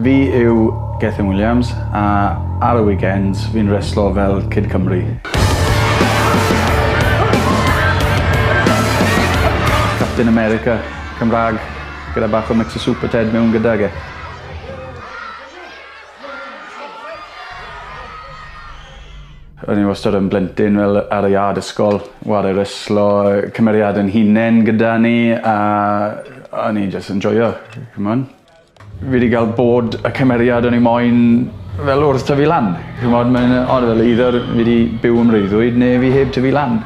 Fi yw Gethin Williams a ar y weekends fi'n reslo fel Kid Cymru. Captain America Cymrag gyda bach o mix o Super Ted mewn gydag e. O'n i wastad yn blentyn fel ar y iard ysgol, ware reslo, cymeriad yn hunen gyda ni a o'n i jyst yn joio, c'mon. Fi 'di ga'l bod y cymeriad o'n i moyn fel wrth tyfu lan. Ch'mod mae'n yy od fel either fi 'di byw yn freuddwyd ne' fi heb tyfu lan.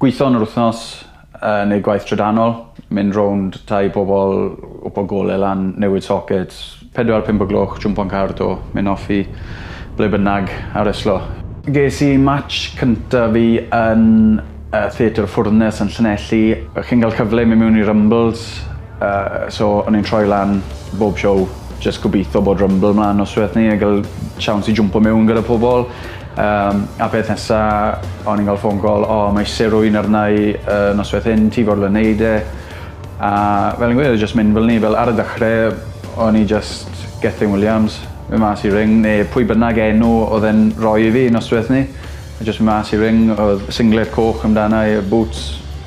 Gwitho yn yr wthnos yy neud gwaith trydanol. Mynd rownd tai pobol gwpo gole lan newid socets Pedwar pump o gloch, jwmpo'n car 'to, mynd off i ble bynnag a reslo. Ges i match cynta fi yn yy Theatr y Ffwrnes yn Llanelli. Yy chi'n ga'l cyfle i myn' miwn i Rumbles yy so o'n i'n troi lan bob show jyst gobitho bod Rumble mlan nosweth 'ny a ga'l tsiawns i jwmpo miwn gyda pobol yym a peth nesa o'n i'n ga'l ffôn call o mae isie rywun arna i yy nosweth hyn ti fodlon neud e? A fel fi'n gweud o' jyst mynd fel 'ny fel ar y dechre o'n i jyst Gethin Williams. Myn' mas i ring ne' pwy bynnag enw odd e'n roi i fi nosweth 'ny. A jyst myn' mas i ring odd singlet coch amdana i a bŵts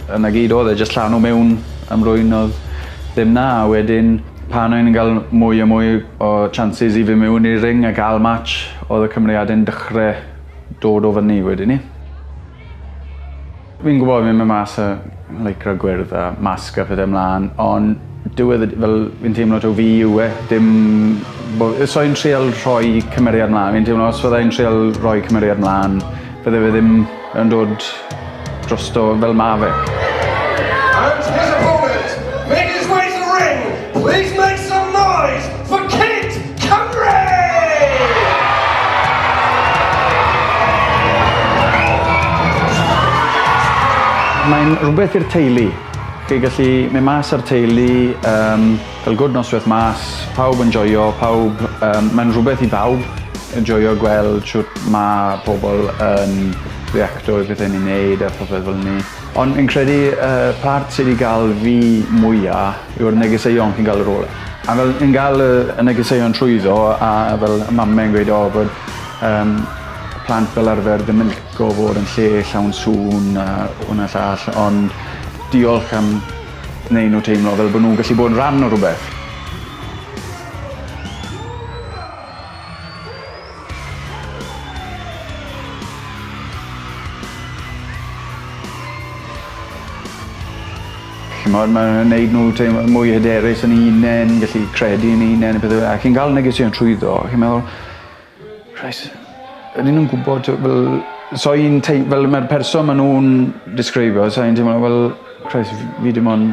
a 'na gyd odd e jyst llanw mewn am rwyn odd ddim 'na a wedyn pan o'n i'n ga'l mwy a mwy o chances i fyn' miwn i'r ring a ga'l match odd y cymeriade'n dechre dod o fyny wedyn 'ny. Fi'n gwbod fi'n myn' mas a lycra gwyrdd a masg a pethe mlan on' diwedd y d- fel fi'n teimlo taw fi yw e dim bo- yy so fi'n trial rhoi cymeriad mlan fi'n teimlo os fyddai'n trial roi cymeriad mlan bydde fe ddim yn dod drosto fel ma' fe. And here's a poet making his way to the ring! Please make some noise for Kate Cymru! Mae'n rhywbeth i'r teulu. Chi'n gallu mynd mas â'r teulu, um, cael gwrdd noswaith mas, pawb yn joio, pawb, um, mae'n rhywbeth i bawb yn joio gweld siwt mae pobl yn reacto i bethau ni'n neud a popeth fel ni. Ond fi'n credu y part sy 'di ga'l fi mwya yw'r negeseuon chi'n ga'l ar ôl e. A fel yn ga'l y y negeseuon trwyddo a fel y mame yn gweud o bod yym plant fel arfer ddim yn lico fod yn lle llawn sŵn a 'wn a llall ond diolch am neu' nw teimlo fel bo' nw'n gallu bod yn rhan o rwbeth. Ch'mod ma' nw'n neud n'w teimlo mwy hyderus yn 'u unen gallu credu yn 'u unen a pethe fel 'a. Chi'n ga'l negeseuon trwyddo a chi'n meddwl reit ydyn nw'n gwbod t'o' fel so un tei- fel ma'r person ma' nw'n disgrifio so un teimlo fel Christ f- fi dim on'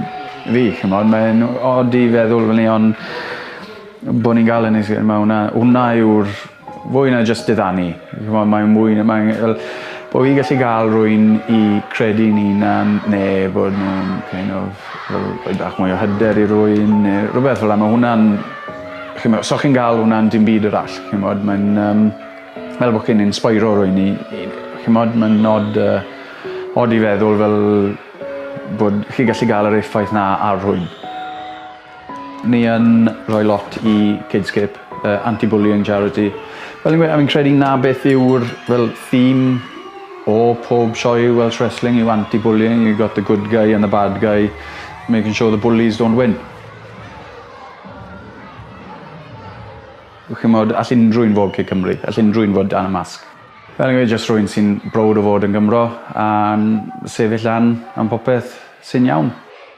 fi ch'mod mae e'n od i feddwl fynny on' Bo ni'n ga'l ynys yy ma' wnna wnna yw'r fwy na jyst diddanu. Ch'mo' mae o'n mwy na mae e fel bo' fi'n gallu ga'l rywun i credu'n 'unan ne' bod nw'n kind of fel rhoi bach mwy o hyder i rywun ne' rwbeth fel 'a ma' hwnna'n chi 'mod so chi'n ga'l wnna'n dim byd arall chi 'mod mae'n yym fel bo' chi'n insbeiro rywun i i chi 'mod ma'n od yy od i feddwl fel bod chi gallu ga'l yr effaith 'na ar rhywun. Ni yn rhoi lot i Kidscape, y anti-bullying charity. Fel fi'n gweud a fi'n credu 'na beth yw'r fel theme o pob sioe Welsh Wrestling yw anti-bullying, you've got the good guy and the bad guy, making sure the bullies don't win. Ch'mod all unrhyw un fod Kid Cymru, all unrhyw un fod dan y masg. Fel fi'n gweud jyst rhywun sy'n browd o fod yn Gymro a'n sefyll lan am popeth sy'n iawn.